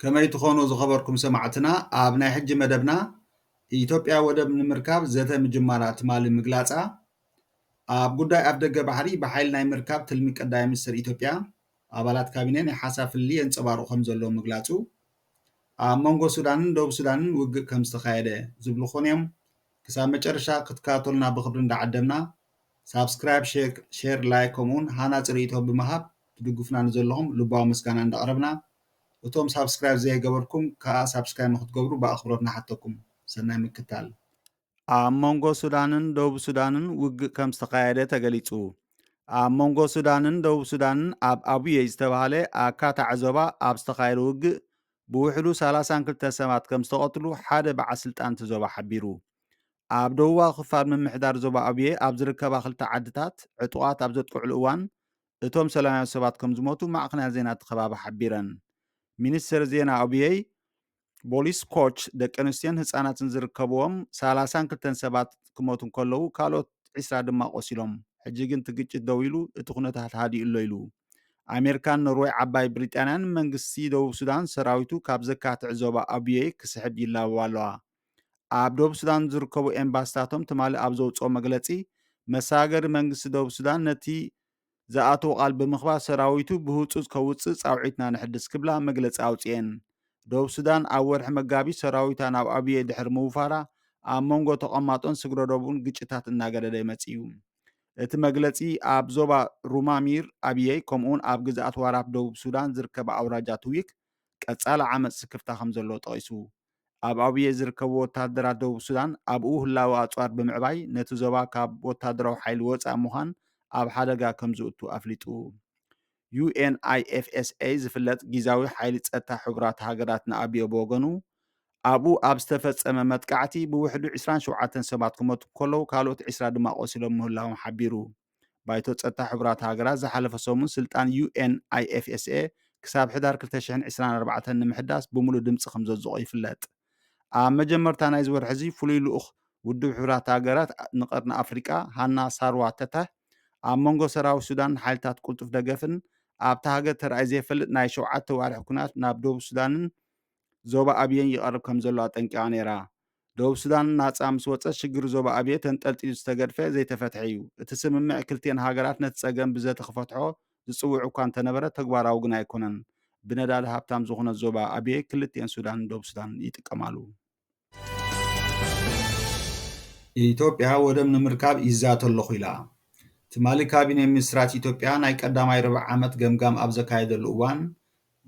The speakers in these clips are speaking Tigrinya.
ከመይ ትኾኑ ዝኸበርኩም ሰማዕትና ኣብ ናይ ሕጂ መደብና ኢትዮጵያ ወደብ ንምርካብ ዘተ ምጅማራ ትማሊ ምግላፃ ኣብ ጉዳይ ኣፍ ደገ ባሕሪ ብሓይሊ ናይ ምርካብ ትልሚ ቀዳይ ሚኒስትር ኢትዮጵያ ኣባላት ካቢነ ናይ ሓሳብ ፍልልይ የንፀባርቑ ከም ዘለዉ ምግላፁ ኣብ መንጎ ሱዳንን ደቡብ ሱዳንን ውግእ ከም ዝተኻየደ ዝብሉ ኮንዮም ክሳብ መጨረሻ ክትከታተሉና ብክብሪ እንዳዓደምና ሳብስክራይብ ሼር ላይክ ከምኡውን ሃናፂ ርእይቶ ብምሃብ ትድግፉና ንዘለኹም ልባዊ ምስጋና እንዳቕረብና እቶም ሳብስክራይብ ዘይገበርኩም ክኣ ሳብስክራይብ ንክትገብሩ ብኣኽብሮት ንሓተኩም ሰናይ ምክታል። ኣብ መንጎ ሱዳንን ደቡብ ሱዳንን ውግእ ከም ዝተኻየደ ተገሊጹ። ኣብ መንጎ ሱዳንን ደቡብ ሱዳንን ኣብ ኣቡየይ ዝተባህለ ኣካታዒ ዞባ ኣብ ዝተኻየደ ውግእ ብውሕዱ ሰላሳን ክልተን ሰባት ከም ዝተቐትሉ ሓደ በዓል ስልጣን እቲ ዞባ ሓቢሩ። ኣብ ደቡባዊ ክፋል ምምሕዳር ዞባ ኣቡየ ኣብ ዝርከባ ክልተ ዓድታት ዕጡቓት ኣብ ዘጥቅዕሉ እዋን እቶም ሰላማውያን ሰባት ከም ዝሞቱ ማዕኸናት ዜና እቲ ከባቢ ሓቢረን። ሚኒስትር ዜና ኣቡየይ ቦሊስ ኮች ደቂ ኣንስትዮን ህፃናትን ዝርከብዎም ሰላሳን ክልተን ሰባት ክሞቱ እንከለዉ ካልኦት ዒስራ ድማ ቆሲሎም ሕጂ ግን እቲ ግጭት ደው ኢሉ እቲ ኩነታት ሃዲኡ ኣሎ ኢሉ ኣሜሪካን ኖርወይ ዓባይ ብሪጣንያን መንግስቲ ደቡብ ሱዳን ሰራዊቱ ካብ ዘካትዕ ዞባ ኣቡየ ክስሕብ ይላበባ ኣለዋ ኣብ ደቡብ ሱዳን ዝርከቡ ኤምባስታቶም ትማሊ ኣብ ዘውፅኦ መግለፂ መሰጋገሪ መንግስቲ ደቡብ ሱዳን ነቲ ዝኣተዎ ቃል ብምኽባር ሰራዊቱ ብህፁፅ ከውፅእ ፃውዒትና ነሕድስ ክብላ መግለፂ ኣውፂኤን። ደቡብ ሱዳን ኣብ ወርሒ መጋቢት ሰራዊታ ናብ ኣብዬ ድሕሪ ምውፋራ ኣብ መንጎ ተቐማጦን ስግረዶቡን ግጭታት እናገደደ መፂኡ። እቲ መግለፂ ኣብ ዞባ ሩማሚር ኣብዬ ከምኡውን ኣብ ግዝኣት ዋራፕ ደቡብ ሱዳን ዝርከባ ኣውራጃ ትዊክ ቀፃሊ ዓመፅ ስክፍታ ከምዘለዎ ጠቒሱ። ኣብ ኣቡየ ዝርከቡ ወተሃደራት ደቡብ ሱዳን ኣብኡ ህላወ ኣጽዋር ብምዕባይ ነቲ ዞባ ካብ ወተሃደራዊ ሓይሊ ወጻኢ ምዃን ኣብ ሓደጋ ከም ዝእቱ ኣፍሊጡ። UNIFSA ዝፍለጥ ጊዛዊ ሓይሊ ጸጥታ ሕቡራት ሃገራት ንኣብዮ ብወገኑ ኣብኡ ኣብ ዝተፈጸመ መጥቃዕቲ ብውሕዱ ዕስራን ሸውዓተን ሰባት ክመቱ ከለዉ ካልኦት ዕስራ ድማ ቆሲሎም ምህላዎም ሓቢሩ። ባይቶ ጸጥታ ሕቡራት ሃገራት ዝሓለፈ ሰሙን ስልጣን UNIFSA ክሳብ ሕዳር ክልተ ሽሕን ዕስራን ኣርባዕተን ንምሕዳስ ብምሉእ ድምጺ ከም ዘጽድቖ ይፍለጥ። ኣብ መጀመርታ ናይዚ ወርሒ'ዚ ፍሉይ ልኡኽ ውድብ ሕቡራት ሃገራት ንቀርኒ ኣፍሪቃ ሃና ሳርዋ ተተህ ኣብ መንጎ ሰራዊት ሱዳንን ሓይልታት ቅልጡፍ ደገፍን ኣብታ ሃገር ተራእዩ ዘይፈልጥ ናይ ሸውዓተ ኣዋርሕ ኲናት ናብ ደቡብ ሱዳንን ዞባ ኣብየን ይቐርብ ከም ዘሎ ኣጠንቂቓ ነይራ። ደቡብ ሱዳን ናጻ ምስ ወጸት ሽግር ዞባ ኣብየ ተንጠልጢሉ ዝተገድፈ ዘይተፈትሐ እዩ። እቲ ስምምዕ ክልቲኤን ሃገራት ነቲ ጸገም ብዘተ ክፈትሖ ዝጽውዕ እኳ እንተነበረ ተግባራዊ ግን ኣይኮነን። ብነዳዲ ሃብታም ዝኹነት ዞባ ኣብየ ክልቲኤን ሱዳንን ደቡብ ሱዳን ይጥቀማሉ። ኢትዮጵያ ወደብ ንምርካብ ይዛተ ኣለኹ ኢላ። ትማሊ ካቢኔ ሚኒስትራት ኢትዮጵያ ናይ ቀዳማይ ርብዒ ዓመት ገምጋም ኣብ ዘካየደሉ እዋን፣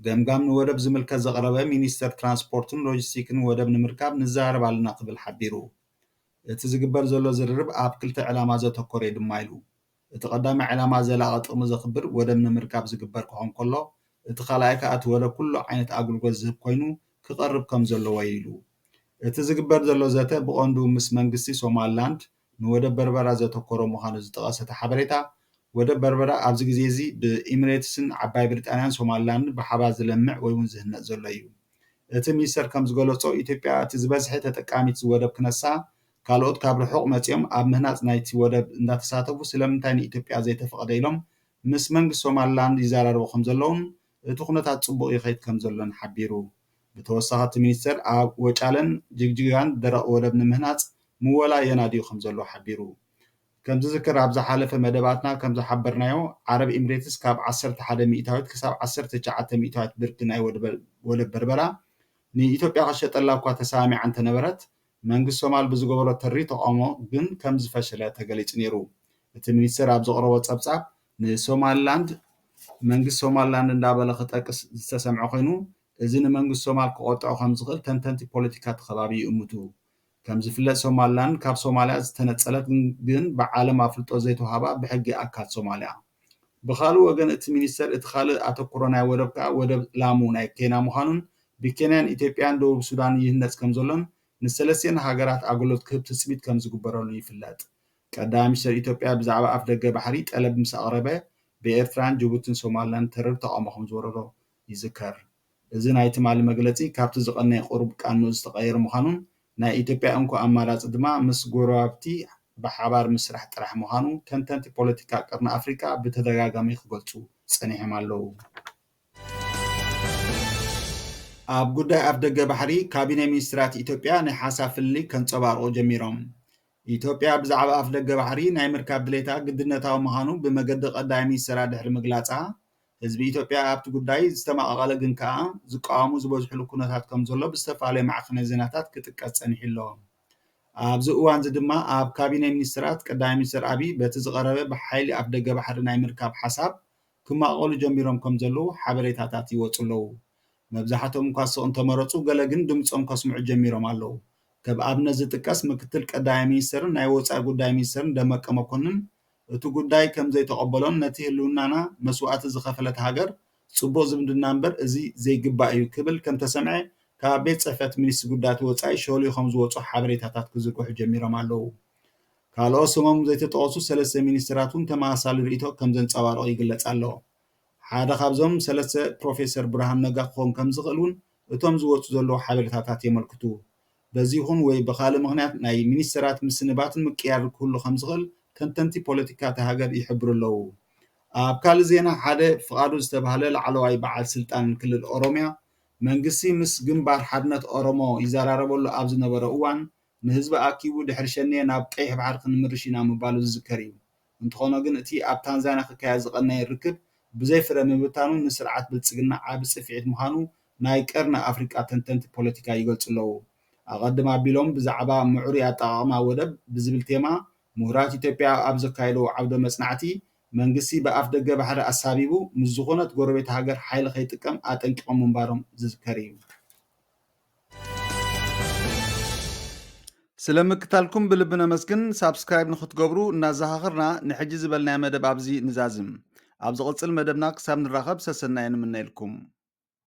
ገምጋም ንወደብ ዝምልከት ዘቕረበ ሚኒስተር ትራንስፖርትን ሎጂስቲክን ወደብ ንምርካብ ንዘራረብ ኣለና ክብል ሓቢሩ። እቲ ዝግበር ዘሎ ዝርርብ ኣብ ክልተ ዕላማ ዘተኮረ'ዩ ድማ ኢሉ። እቲ ቀዳማይ ዕላማ ዘላቒ ጥቕሚ ዘኽብር ወደብ ንምርካብ ዝግበር ክኾን ከሎ እቲ ካልኣይ ከኣ እቲ ወደብ ኩሉ ዓይነት ኣግልጎት ዝህብ ኮይኑ ክቐርብ ከምዘለዎ'ዩ ኢሉ። እቲ ዝግበር ዘሎ ዘተ ብቐንዱ ምስ መንግስቲ ሶማልላንድ፣ ንወደብ በርበራ ዘተኮረ ምዃኑ ዝጠቐሰ እቲ ሓበሬታ፣ ወደብ በርበራ ኣብዚ ግዜ እዚ ብኢምሬትስን ዓባይ ብሪጣንያን ሶማሊላንድን ብሓባር ዝለምዕ ወይ'ውን ዝህነጽ ዘሎ እዩ። እቲ ሚኒስተር ከም ዝገለጾ፣ ኢትዮጵያ እቲ ዝበዝሐ ተጠቃሚት እዚ ወደብ ክነሳ፣ ካልኦት ካብ ርሑቕ መጺኦም ኣብ ምህናጽ ናይቲ ወደብ እንዳተሳተፉ ስለምንታይ ንኢትዮጵያ ዘይተፈቕደ ኢሎም ምስ መንግስቲ ሶማሊላንድ ይዘራረቡ ከም ዘለዉን እቲ ኩነታት ፅቡቕ ይኸይድ ከምዘሎን ሓቢሩ። ብተወሳኺ እቲ ሚኒስቴር ኣብ ወጫለን ጅግጅጋን ደረቕ ወደብ ንምህናፅ ምወላ የናድዩ ከምዘሎ ሓቢሩ። ከምዝዝከር ኣብ ዝሓለፈ መደባትና ከምዝሓበርናዮ ዓረብ ኢምሬትስ ካብ ዓሰርተ ሓደ ሚኢታዊት ክሳብ ዓሰርተ ትሽዓተ ሚኢታዊት ብርኪ ናይ ወደብ በርበራ ንኢትዮጵያ ክትሸጠላ እኳ ተሰማሚዓ እንተነበረት መንግስቲ ሶማል ብዝገበሮ ተሪር ተቓውሞ ግን ከምዝፈሸለ ተገሊጹ ነይሩ። እቲ ሚኒስተር ኣብ ዘቕረቦ ጸብጻብ ንሶማሊላንድ መንግስቲ ሶማሊላንድ እንዳበለ ክጠቅስ ዝተሰምዐ ኮይኑ፣ እዚ ንመንግስቲ ሶማል ክቖጥዖ ከምዝኽእል ተንተንቲ ፖለቲካ እቲ ከባቢ ይእምቱ። ከምዝፍለጥ ሶማሊላንድ ካብ ሶማልያ ዝተነጸለት ግን ብዓለም ኣፍልጦ ዘይተዋህባ ብሕጊ ኣካል ሶማልያ። ብኻልእ ወገን እቲ ሚኒስተር እቲ ካልእ ኣተኩሮ ናይ ወደብ ከኣ ወደብ ላሙ ናይ ኬንያ ምዃኑን ብኬንያን ኢትዮጵያን ደቡብ ሱዳንን ይህነጽ ከምዘሎን ንሰለስቲኤን ሃገራት ኣገልሎት ክህብ ትጽቢት ከምዝግበረሉ ይፍለጥ። ቀዳማይ ሚኒስተር ኢትዮጵያ ብዛዕባ ኣፍደገ ባሕሪ ጠለብ ምስ ኣቕረበ ብኤርትራን ጅቡትን ሶማልላንድ ተረር ተቓውሞ ከምዝወረዶ ይዝከር። እዚ ናይ ትማሊ መግለጺ ካብቲ ዝቐነየ ቁሩብ ቃንኡ ዝተቐየረ ምዃኑን ናይ ኢትዮጵያ እንኮ ኣማራጺ ድማ ምስ ጎረባብቲ ብሓባር ምስራሕ ጥራሕ ምዃኑ ተንተንቲ ፖለቲካ ቀርኒ ኣፍሪቃ ብተደጋጋሚ ክገልጹ ጸኒሖም ኣለዉ። ኣብ ጉዳይ ኣፍደገ ባሕሪ ካቢነ ሚኒስትራት ኢትዮጵያ ናይ ሓሳብ ፍልልይ ከንጸባርቑ ጀሚሮም። ኢትዮጵያ ብዛዕባ ኣፍደገ ባሕሪ ናይ ምርካብ ድሌታ ግድነታዊ ምዃኑ ብመገዲ ቀዳማይ ሚኒስትራ ድሕሪ ምግላጻ ህዝቢ ኢትዮጵያ ኣብቲ ጉዳይ ዝተማቐቐለ ግን ከኣ ዝቃወሙ ዝበዝሕሉ ኩነታት ከም ዘሎ ብዝተፈላለዩ ማዕኸነ ዜናታት ክጥቀስ ጸኒሑ'ሎ። ኣብዚ እዋንዚ ድማ ኣብ ካቢነ ሚኒስትራት ቀዳማይ ሚኒስትር ኣቢይ በቲ ዝቐረበ ብሓይሊ ኣፍደገ ባሕሪ ናይ ምርካብ ሓሳብ ክማቐቐሉ ጀሚሮም ከም ዘለዉ ሓበሬታታት ይወጹ ኣለዉ። መብዛሕቶም እኳ ስቕ እንተመረጹ ገለ ግን ድምጾም ከስምዑ ጀሚሮም ኣለዉ። ከብ ኣብነት ዝጥቀስ ምክትል ቀዳማይ ሚኒስትርን ናይ ወጻኢ ጉዳይ ሚኒስትርን ደመቀ መኮንን እቲ ጉዳይ ከም ዘይተቐበሎን ነቲ ህልውናና መስዋእቲ ዝኸፈለት ሃገር ፅቡቕ ዝምድና እምበር እዚ ዘይግባእ እዩ ክብል ከም ተሰምዐ ካብ ቤት ፅሕፈት ሚኒስትሪ ጉዳያት ወፃኢ ሾሊኾም ዝወፁ ሓበሬታታት ክዝርግሑ ጀሚሮም ኣለው። ካልኦት ስሞም ዘይተጠቐሱ ሰለስተ ሚኒስትራት እውን ተመሳሳሊ ርእይቶ ከም ዘንፀባረቑ ይግለፅ ኣሎ። ሓደ ካብዞም ሰለስተ ፕሮፌሰር ብርሃኑ ነጋ ክኸውን ከም ዝኽእል እውን እቶም ዝወፁ ዘለው ሓበሬታታት የመልክቱ። በዚ ይኹን ወይ ብኻልእ ምኽንያት ናይ ሚኒስተራት ምስንባትን ምቅይያርን ክህሉ ከምዝኽእል ተንተንቲ ፖለቲካ እታ ሃገር ይሕብሩ ኣለዉ። ኣብ ካልእ ዜና ሓደ ፍቓዱ ዝተባህለ ላዕለዋይ በዓል ስልጣን ክልል ኦሮሚያ መንግስቲ ምስ ግንባር ሓድነት ኦሮሞ ይዘራረበሉ ኣብ ዝነበሮ እዋን ንህዝቢ ኣኪቡ ድሕሪ ሸኔ ናብ ቀይሕ ባሕሪ ክንምርሽ ኢና ምባሉ ዝዝከር እዩ። እንተኾነ ግን እቲ ኣብ ታንዛንያ ክካየድ ዝቐነየ ርክብ ብዘይ ፍረ ምብታኑ ንስርዓት ብልጽግና ዓቢ ጽፍዒት ምዃኑ ናይ ቀርኒ ኣፍሪቃ ተንተንቲ ፖለቲካ ይገልጹ ኣለዉ። ኣቐድም ኣቢሎም ብዛዕባ ምዕሩይ ኣጠቓቕማ ወደብ ብዝብል ቴማ ምሁራት ኢትዮጵያ ኣብ ዘካየድዎ ዓውደ መጽናዕቲ መንግስቲ ብኣፍደገ ባሕሪ ኣሳቢቡ ምስ ዝኾነት ጎረቤት ሃገር ሓይሊ ከይጥቀም ኣጠንቂቖም ምንባሮም ዝዝከር እዩ። ስለ ምክታልኩም ብልቢ ነመስግን ሳብስክራይብ ንክትገብሩ እናዘኻኽርና ንሕጂ ዝበልናዮ መደብ ኣብዚ ንዛዝም ኣብ ዝቕጽል መደብና ክሳብ ንራኸብ ሰሰናዩ ንምነየልኩም